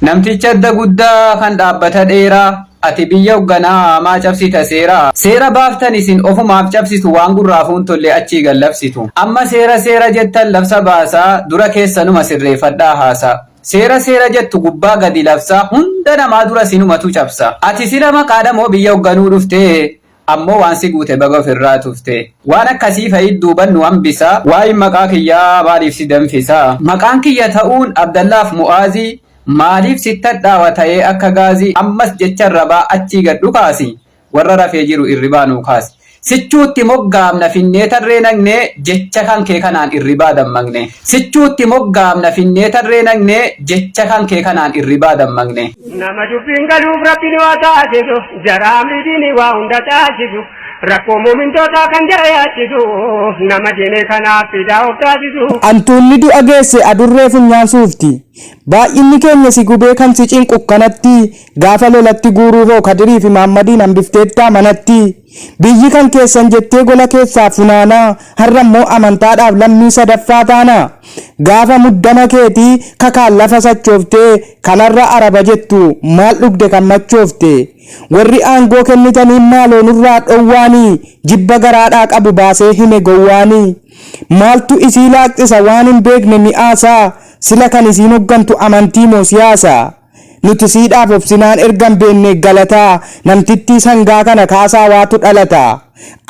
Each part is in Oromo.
Namticha adda guddaa kan dhaabbata dheeraa Ati biyya hogganaa maa cabsita seera Seera baaftan isin ofumaaf cabsitu waan gurraafuu hin tolle achii gad labsitu Amma seera seera jettan labsa baasaa dura keessanuma sirreeffadhaa haasaa Seera seera jettu gubbaa gadi labsaa hunda namaa dura sinumatu cabsa Ati sila maqaadhamoo biyya hogganuu dhufte Ammoo waan si guute baga of irraa tufte. Waan akkasii fa'i duuban nu hambisa. Waa'een maqaa kiyyaa maaliif si danfisa? Maqaan kiyya ta'uun Abdallaaf Mu'aazi Maaliif sitti hadhaawa ta'ee akka gaazi Ammas jecha arrabaa achii gad dhukaasi Warra rafee jiru irribaa nuu kaasi Sichuutti moggaamna finnee tarree naqne Jecha kan kee kanaan irribaa dammaqne Sichuutti moggaamna finnee tarree naqne Jecha kan kee kanaan irribaa dammaqne. Nama dubbiin galuuf rabbiin waa taasisu jaraa miidhiin waa hunda taasisu rakkoo muumintootaa kan jara yaachisu nama diine kanaaf fidaa of taasisu. Antuunni du'a geesse adurree funyaan suufti. Baay'inni keenya si gubee kan si cinqu kanatti gaafa lolatti guuruu hoo kadiriifi maammadiin hambifteettaa manatti. Biyyi kan keessan jettee gola keessaa funaanaa har'a immoo amantaadhaaf lammii sadaffaa taana? Gaafa muddama keetii kakaan lafa sachooftee kan har'a araba jettu maal dhugde kan machoofte? Warri aangoo kennitaniin maaloo nurraa dhowwaani jibba garaadhaa qabu baasee hime gowwaani. Maaltu isii laaqxisa waan hin beekne mi'aasaa sila kan isiin hoggantu amantii moo siyaasa? Nuti siidhaaf obsinaan ergan beennee galataa namtittii sangaa kana kaasaa waatu dhalata.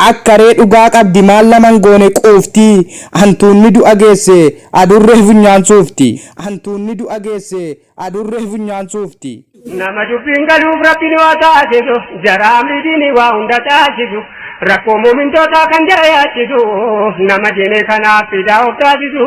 Akka ree dhugaa qabdi maal naman goone quufti hantuunni du'a geesse adurree funyaan suufti hantuunni du'a geesse adurree funyaan suufti. Nama dubbiin galuuf Rabbiin waa taasisu jara amrii diinii waa hunda taasisu rakkoo muumintootaa kan jara yaachisu nama diinee kanaaf fidaa of taasisu.